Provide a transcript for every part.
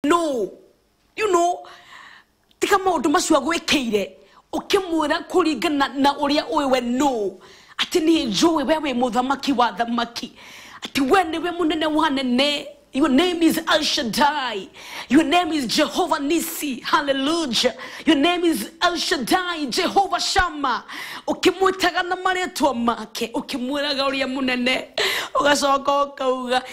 no you know tika maundu macio agwikiire ukimwira kuringana na uria uwe we no ati ni njui we wi muthamaki wa thamaki ati we niwe munene wa nene Your name is El Shaddai. Your name is Jehovah Nisi. Hallelujah. Your name is El Shaddai, Jehovah Shammah. Ukimwitaga na marĩtwa make, ukimwĩraga ũrĩa mũnene, ũgacoka ũkauga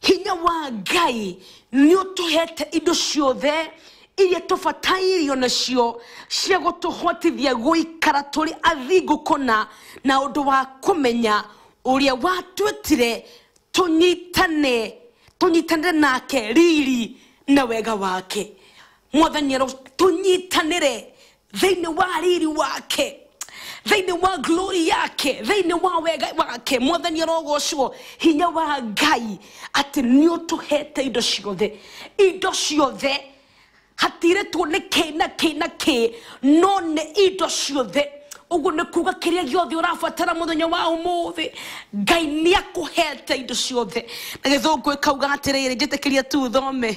hinya wa ngai nĩ ũtũhete indo ciothe iria tũbatairio nacio cia gũtũhotithia gũikara tũrĩ athingu kũna na ũndũ wa kũmenya ũrĩa watwĩtire tũnyitane tũnyitanĩre nake riri na wega wake mwathani aro tũnyitanĩre thĩinĩ wa riri wake thĩinĩ wa glory yake thĩinĩ wa wega wake mwathani arogocwo hinya wa ngai atĩ nĩ ũtũhete indo ciothe indo ciothe hatirĩtwo nĩ kĩ na kĩ na kĩ no nĩ indo ciothe ũguo nĩ kuga kĩrĩa gĩothe ũrabatara mũthenya wa ũmũthĩ ngai nĩ akũhete indo ciothe na gĩthũngũ ĩkauga atĩrĩrĩ njĩtĩkĩria tu thome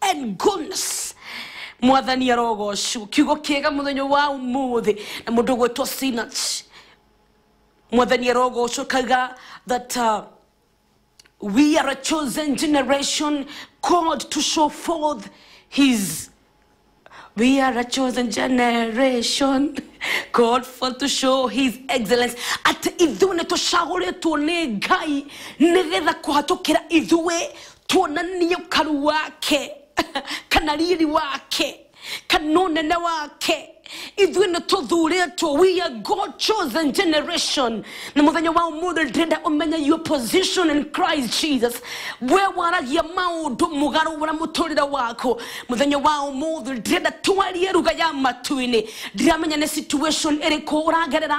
and goodness mwathani arogocwo kiugo kiega muthenya wa umuthi na mundu gwitwo sinach mwathani arogocwo kaga that uh, we are a chosen generation called to show forth his We are a chosen generation called for to show his excellence atĩ ithuĩ nĩ tũcagũrĩtwo nĩ ngai nĩgetha kũhatũkĩra ithuĩ tuonanie ukaru wake kana riri wake kana unene wake ithuĩ nĩ tũthurĩtwo we are god chosen generation na mũthenya wa ũmũthĩ ndĩrenda ũmenye your position in christ jesus we waragia maũndũ mũgarũ ũrĩa mũtũrĩre waku mũthenya wa ũmũthĩ ndĩrenda twarie ruga ya matu-inĩ ndiramenya nĩ situation ĩrĩkũ ũragerera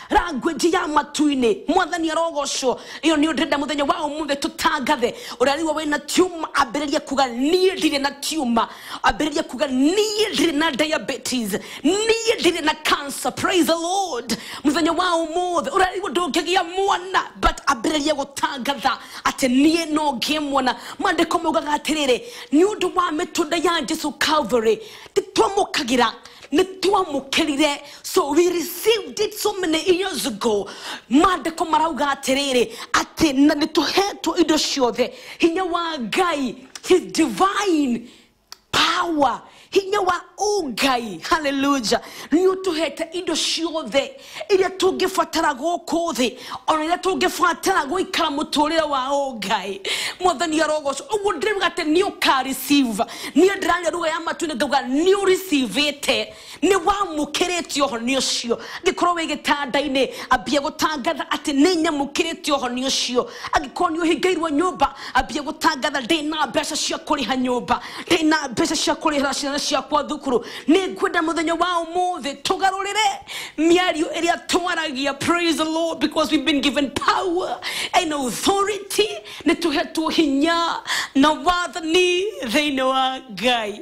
language ya matu-inĩ mwathani arogocwo ĩyo nĩ ndĩrenda mũthenya wa ũmũthĩ tũtangathe ũrĩa rĩu wĩna tiuma ambĩrĩria kuga niĩ ndirĩ na tiuma ambĩrĩria kuga niĩ ndirĩ na diabetes niĩ ndirĩ na cancer praise the lord mũthenya wa ũmũthĩ ũrĩa rĩu ndũngĩgĩa mwana but ambĩrĩria gũtangatha atĩ niĩ no ngĩe mwana mandĩko maugaga atĩrĩrĩ nĩ ũndũ wa mĩtũnda ya jesu calvary nĩtwamũkagĩra nĩtwamũkĩrire so we received it so many years ago mandĩko marauga atĩrĩrĩ atĩ na nĩ tũhetwo indo ciothe hinya wa ngai his divine power hinya wa ũngai haleluja nĩ ũtũhete indo ciothe iria tũngĩbatara gũkũ thĩ ona iria tũngĩbatara gũikara mũtũrĩre wa ũngai mwathani arogoco ũguo ndĩrauga atĩ nĩ ũkareceive niĩ ndĩrarĩa ruga ya matu nĩ ngauga nĩ ũricivĩte nĩ wamũkĩrĩte ũhoni ũcio angĩkorwo wĩ gĩtanda-inĩ ambie gũtangatha atĩ nĩ nyamũkĩrĩte ũhoni ũcio angĩkorwo nĩ ũhingĩirwo nyũmba ambie gũtangatha ndĩ na mbeca cia kũrĩha nyũmba ndĩ na mbeca cia kũrĩhĩra ciana ciakwa thukuru nĩ ngwenda mũthenya wa ũmũthĩ tũgarũrĩre mĩario ĩrĩa twaragia praise the lord because we've been given power and authority nĩ tũhetwo hinya na wathani thĩinĩ wa ngai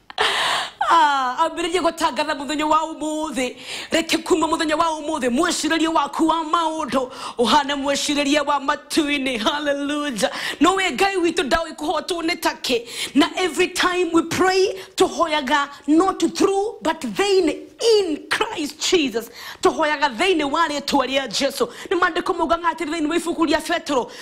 Ah, ambĩrĩrie gũtangatha mũthenya wa ũmũthĩ reke kuma mũthenya wa ũmũthĩ mwĩcirĩrie waku wa maũndũ ũhane mwĩcirĩrie wa matu-inĩ haleluja no wĩ ngai witũ ndaũĩ kũhotwo nĩ takĩ na every time we pray tũhoyaga not through but thĩinĩ in christ jesus tũhoyaga thĩinĩ wa rĩtwa rĩa jesu nĩ mandĩko maugaga atĩrĩ thĩinĩ wa ibuku rĩa petero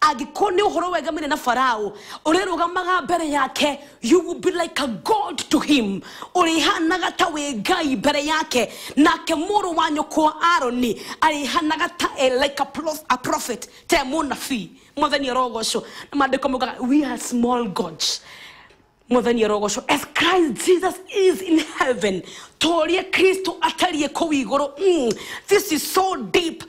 angĩkorwo nĩ ũhoro wegamire na farao ũrĩrũgamaga mbere yake you will be like a god to him ũrĩhanaga ta wĩ ngai mbere yake nake mũrũ wa nyũkwa aroni arĩhanaga ta e like a, prof, a prophet te mũnabii mwathani arogocwo na maandĩko maugaga we are small gods Mwathani arogocwo as Christ Jesus is in heaven. Torie Kristo atariĩ kũu igũrũ. Mm, this is so deep.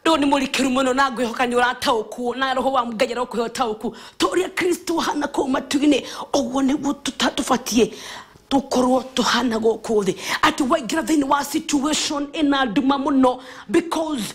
Rĩu nĩ mũrikĩru mũno na ngwĩhoka nĩ ũrataũkuo na roho wa Ngai arokũhe ũtaũku. Toria Kristo hana kũu matu-inĩ. Ũguo nĩguo tũta- tũbatiĩ tũkorwo tũhana gũkũ thĩ atĩ waingĩra thĩinĩ wa situation ĩna nduma mũno because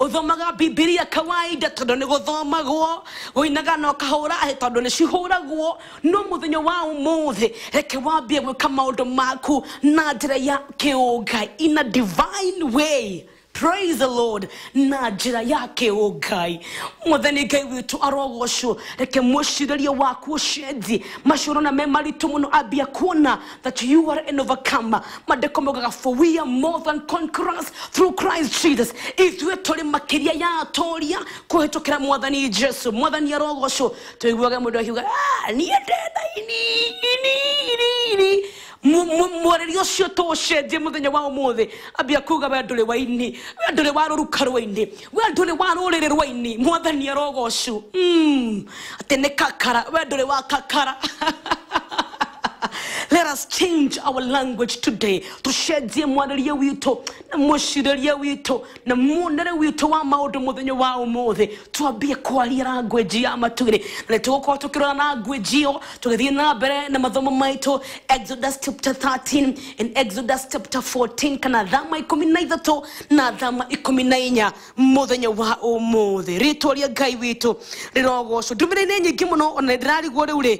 ũthomaga bibilia kawaida tondũ nĩ gũthomagwo gũinaga na ũkahũra hĩ tondũ nĩ cihũragwo no mũthenya wa ũmũthĩ reke wambie gwĩka maũndũ maku na njĩra ya kĩũngai in a divine way praise the lord na njĩra ya kĩũngai mũthenya ngai witũ arogocwo reke mwĩcirĩrie waku ũcenjie maciũrona me maritũ mũno ambia kuona that you are an overcomer mandĩko mogaga for we are more than conquerors through christ jesus ithuĩ tũrĩ makĩria ya atũria kũhĩtũkĩra mwathani jesu mwathani arogocwo tũiguage mũndũ akiuga "Ah, niĩ ndĩthaini mwarĩria ũcio tũũcenjie mũthenya wa ũmũthĩ ambia kuga we ndũrĩ waini we ndũrĩ wa rũruka rwaini we ndũrĩ wa rũrĩrĩ rwaini mwathani arogocwo mm. atä nä kakara we ndå rä wa kakara Let us change our language today. Tucenjie mwarĩrie witũ na mũcirĩrie witũ na muonere witũ wa maũndũ mũthenya wa ũmũthĩ twambie kwaria language ya matuĩrĩ na nĩtũgũkorwo tũkĩrora language ĩyo tũgĩthiĩ na mbere na mathomo maitũ Exodus chapter 13 and Exodus chapter 14 kana thama ikũmi na ithatũ na thama ikũmi na inya mũthenya wa ũmũthĩ rĩtwa rĩa ngai witũ rĩrogocwo ndũmĩrĩinĩ nyingĩ mũno ona ndĩrarigwo rĩu rĩ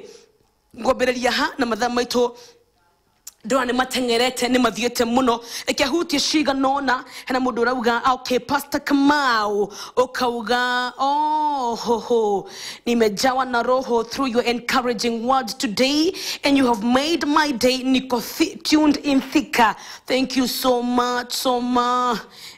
ngwambĩrĩria ha na mathaa maitũ ndona nä mateng'erete nä mathiäte må no reke hutie ciganona hena må ndå å rauga okay, pastor kamau å kauga oh, ho, ho. nimejawa na roho through your encouraging words today and you have made my day niko thi- tuned in thika thank you so much so much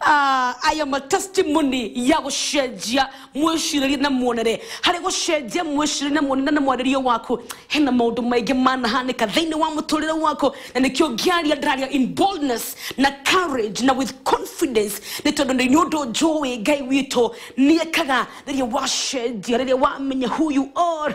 Ah, aya matestimony ya gũcenjia mwĩcirĩrie na muonere harĩ gũcenjia mwĩcirĩrie na muonere na mwarĩrie waku hena maũndũ maingĩ manahanĩka thĩinĩ wa mũtũrĩre waku na nĩkĩo ngĩaria ndĩraria in boldness na courage na with confidence nĩ tondũ nĩ nĩ ũndũ njũĩ ngai witũ nĩekaga rĩrĩa wacenjia rĩrĩa wamenya who you are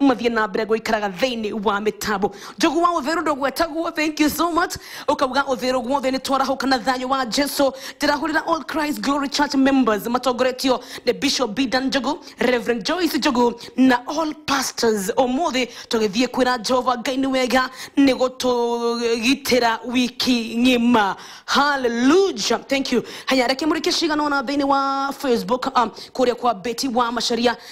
mathiĩ na mbere gũikaraga thĩinĩ wa mĩtambo njogu wa ũthĩrũ ndũgwetagwo thank you so much ũkauga ũthĩrũ guothe nĩ twarahũka na thayũ wa jesu ndĩrahũrĩra all christ glory church members matongoretio nĩ bishop bidan njogu reverend joyce njogu na all pastors ũmũthĩ tũgĩthiĩ kwĩra jehova ngai nĩ wega nĩ gũtũgitĩra wiki ng'ima haleluja thank you haya reke mũrĩke cigana ona thĩinĩ wa facebook um, kũrĩa kwa beti wa macaria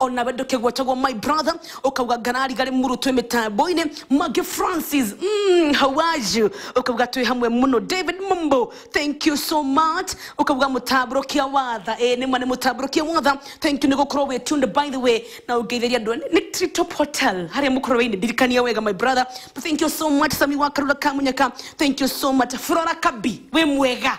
ona we ndũkĩgwetagwo my brother ũkauga ngarariga rĩ mũrutwo mĩtambo-inĩ mangĩ francis mm, how are you ũkauga twĩ hamwe mũno david mumbo thank you so much ũkauga mũtambũrũkia watha ĩ nĩ ma nĩ mũtambũrũkia watha thank you nĩ gũkorwo wĩ tuned by the way na ũngeithĩria andũ nĩ tritop hotel harĩa mũkorwo wĩinĩ ndirikania wega my brother but thank you so much sami wa karura kamunyaka thank you so much flora kabi wĩ mwega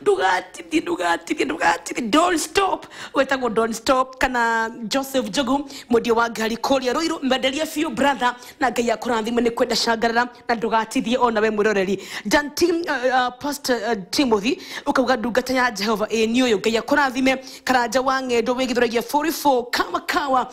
ndugatithie ndugatithie ndugatithie don't stop wetagwo don't stop kana joseph jogu mwendia wa ngari kũrĩa rũirũ mwenderie biũ brother na ngai akũrathime nĩ kwenda cangarara na ndũgatithie ona we mwĩroreri dan Tim, uh, uh, pastor uh, timothy ũkauga ndungata ya jehova ĩni ũyũ ngai akũrathime karanja wa ng'endo wĩgithũragia 44 kama kawa